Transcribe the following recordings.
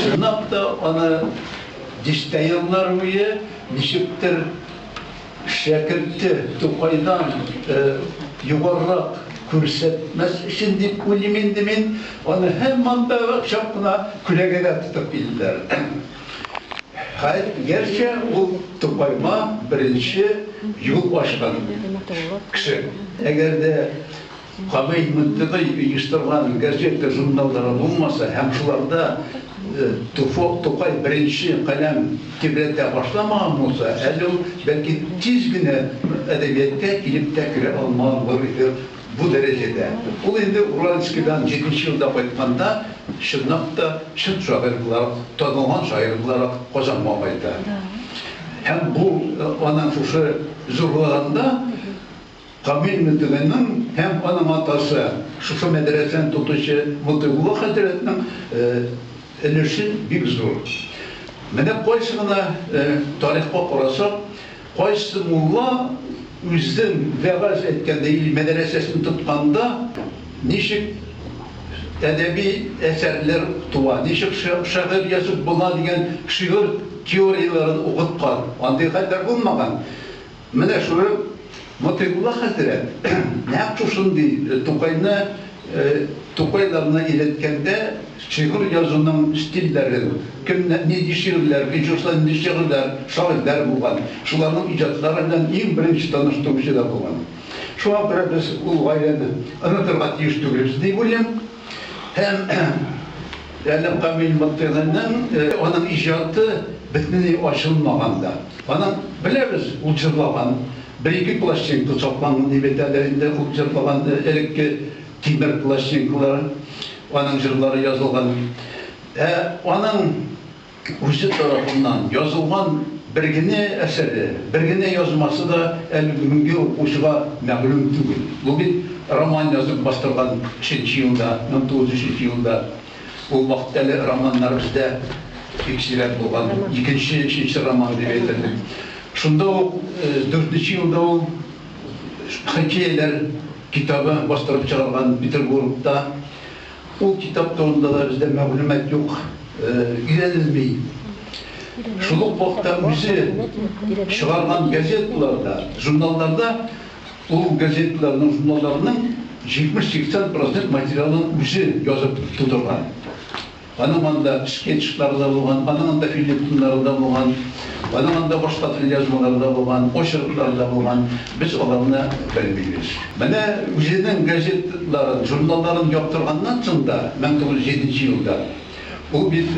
Чынлап та аны дистә еллар буе ничектер шәкерте Тукайдан югарырак күрсәтмәс өчен дип уйлыйм инде мин, аны һаман да чак кына күләгәдә тотып килделәр. Хәер, гәрчә ул Тукайга беренче юл ачкан кеше. Әгәр дә Камил Мөнтегый оештырган газета-журналлары булмаса һәм шуларда Тукай беренче каләм тибрәтә башламаган булса, әле ул, бәлки, тиз генә әдәбиятка килеп тә керә алмаган булыр иде. Бу дәрәҗәдә. Ул инде Уральскидан җиденче елда кайтканда, чынлап та, чын шагыйрь буларак, танылган шагыйрь буларак Казанга кайта. Һәм бу аның шушы зурлыгында Камил Мотыйгыйның һәм аның атасы, шушы мәдрәсәне тотучы Мотыйгулла хәзрәтнең өлеше бик зур. Менә кайсы гына тарихка карасак, Кайсы мулла үзен вәгазь әйткәндә или мәдрәсәсен тотканда ничек әдәби әсәрләр туа, ничек шигырь язып була дигән шигырь теорияләрен укыткан. Андый хәлләр булмаган. Менә шушы Мотыйгулла хәзрәт нәкъ шушындый Тукайны Тукайларны өйрәткәндә шигырь язуның стильләрен, кемнәр нинди шигырьләр, Вячеслав нинди шигырьләр, шагыйрьләр булган, шуларның иҗатлары белән иң беренче таныштыручы да булган. Шуңа күрә без ул гаиләне онытырга тиеш түгелбез дип уйлыйм. Һәм Әллә Камил Мортыйгыйның аның иҗаты бөтенләй ачылмаган да. Аның, беләбез, ул җырлаган бер-ике пластинка сакланган дип әйтәләр инде, ул җырлаган элекке тимер пластинкалар, аның җырлары язылган. Ә аның Үзе тарафыннан язылган бер генә әсәре, бер генә язмасы да әле бүгенге укучыга мәгълүм түгел. Бу бит роман язып бастырган шенче елда, 1903 елда. Ул вакытта әле романнар бездә бик сирәк булган, икенче, өченче роман дип әйтерлек. Шунда ук дүртенче елда ул хикәяләр китабы бастырып чыгарган Петербургта. Ул китап турында да бездә мәгълүмат юк, өйрәнелми. Шул ук вакытта үзе чыгарган газеталарда, журналларда ул газеталарның, журналларның 70-80 процент материалын үзе язып тудырган. Аның анда скетчлары да булган, аның анда фельетоннары да булган. Аның анда башка кулъязмаларда булган, очеркларда булган, без аларны белмибез. Менә үзенең газеталарын, журналларын яптырганнан соң да, мең тугыз йөз җиденче елда, ул бит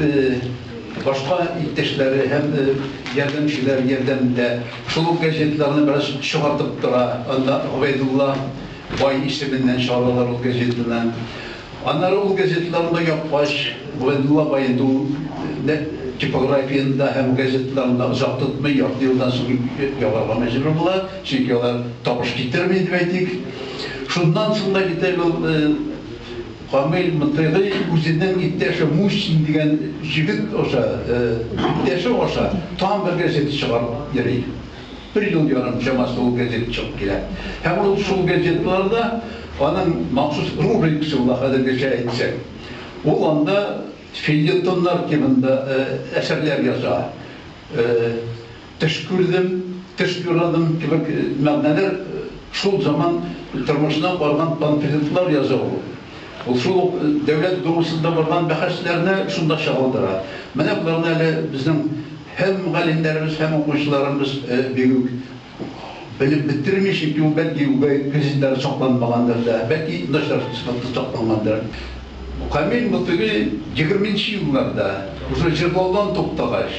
башка иптәшләре һәм ярдәмчеләр ярдәмендә шул ук газеталарны бераз чыгартып тора, анда Гобәйдулла бай исеменнән чыгаралар ул газетаны. Аннары ул газеталарны да япкач, Габдулла Байду да типографиядә һәм газеталарында озак тотмый, ярты елдан соң ябарга мәҗбүр була, чөнки алар табыш китерми, дип әйтик. Шуннан соң да бит әле ул Камил Мотыйгый үзенең иптәше Мусин дигән җегет аша, иптәше аша тагын бер газета чыгарып йөри. Бер ел ярым чамасы ул газета чыгып килә. Һәм ул шул газеталарда, аның махсус рубрикасы була хәзергечә әйтсәк. Ул анда фельетоннар темында әсәрләр яза. Төш күрдем, төш юрадым кебек мәгънәләр шул заман тормышына барган панфлетлар яза ул. Ул шул ук Дәүләт Думасында барган бәхәсләрне шунда чагылдыра. Менә боларны әле безнең. Һәм мөгаллимнәребез һәм укучыларыбыз бик үк белеп бетерми, чөнки ул бәлки үгәй кредитлары сакланмагандыр да, бәлки начар сыйфатта саклангандыр. Камил Мотыйгый егерменче елларда, уже җырлаудан туктагач,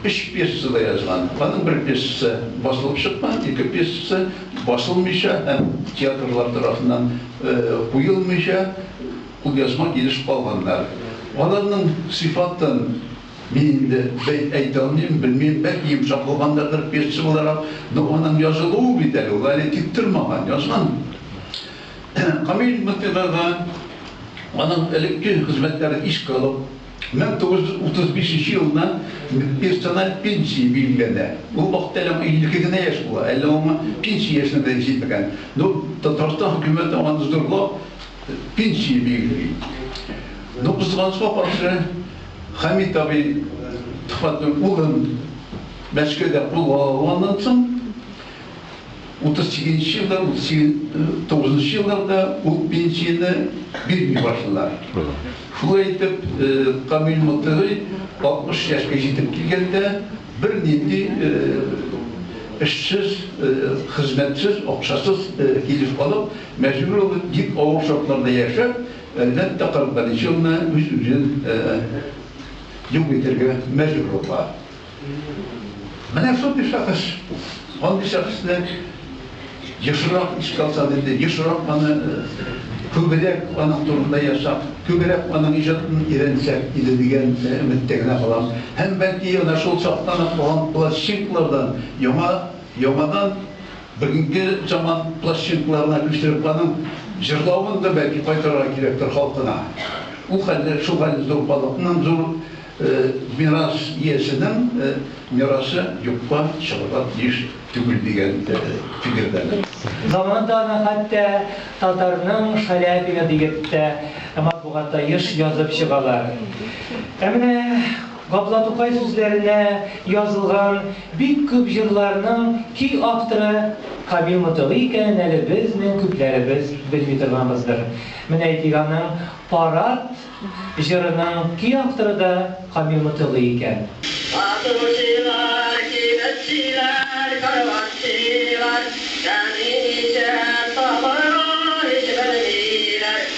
өч пьеса да язган. Аның бер пьесасы басылып чыккан, ике пьесасы басылмыйча һәм театрлар тарафыннан куелмыйча, кулъязма килеш калганнар. Аларның сыйфатын. Мин инде бәйт әйтә алмыйм, белмим, бәлки йомшак булгандырдыр, пьесачы буларак, но аның язылуы бит әле, ул әле тиктормаган, язган. Камил Мөслихага аның элекке хезмәтләрен искә алып, 1935 нче елны персональ пенсия билгеләнә. Ул вакытта әле аңа 52 генә яшь була, әле аңа пенсия яшенә дә җитмәгән. Но Татарстан хөкүмәте аны зурлап пенсия билгели. Но кызганычка каршы, Хәмит абый Төхвәтнең улын Мәскәүдә кулга алганнан соң, 38 нче елда, 39 нчы елларда ул пенсияне бирми башлыйлар. Шулай итеп, Камил Мотыгый 60 яшькә җитеп килгәндә, бернинди эшсез, хезмәтсез, акчасыз килеш калып, мәҗбүр булып, бик авыр шартларда яшәп, Әлбәттә, кырык беренче елны үз-үзен юк итәргә мәҗбүр була. Менә шундый шәхес, андый шәхесне ешрак искә алсак инде, ешрак аны, күбрәк аның турында язсак, күбрәк аның иҗатын өйрәнсәк иде дигән өметтә генә калам. Һәм, бәлки, әнә шул чактан ук калган пластинкалардан яңа, яңадан Бүгенге заман пластинкаларына күчтереп аның җырлавын да бәлки кайтарырга кирәктер халкына. Ул хәлле, шул хәлле зур халыкның, зур мирас иясенең мирасы юкка чыгарга тиеш түгел дигән фикердәмен. Заманында аны хәтта татарның Шаляпины диеп тә матбугатта еш язып чыгалар. Ә менә Габдулла Тукай сүзләренә язылган бик күп җырларның ки авторы Камил Мотыгый икәнен әле безнең күпләребез белми торганбыздыр. Менә әйтик, аның Парад җырының ки авторы да Камил Мотыгый икән. Сатучылар, кибетчеләр, караватчылар, Нәни ишәк табыла, һич белмиләр.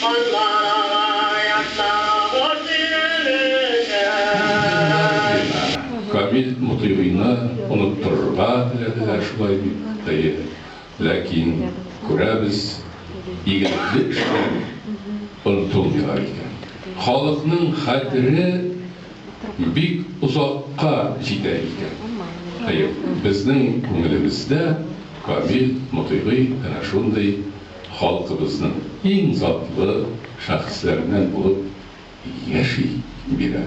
Кызлар ала яшьтагы боз тирәлеген. Камил Мотыйгыйны оныттырырга теләделәр шулай бит, әйе. Ләкин, күрәбез, игелекле эшләр онытылмыйлар икән. Халыкның хәтере бик озакка җитә икән. Әйе, безнең күңелебездә Камил Мотыйгый әнә шундый. Халкыбызның иң затлы шәхесләреннән булып яши бирә.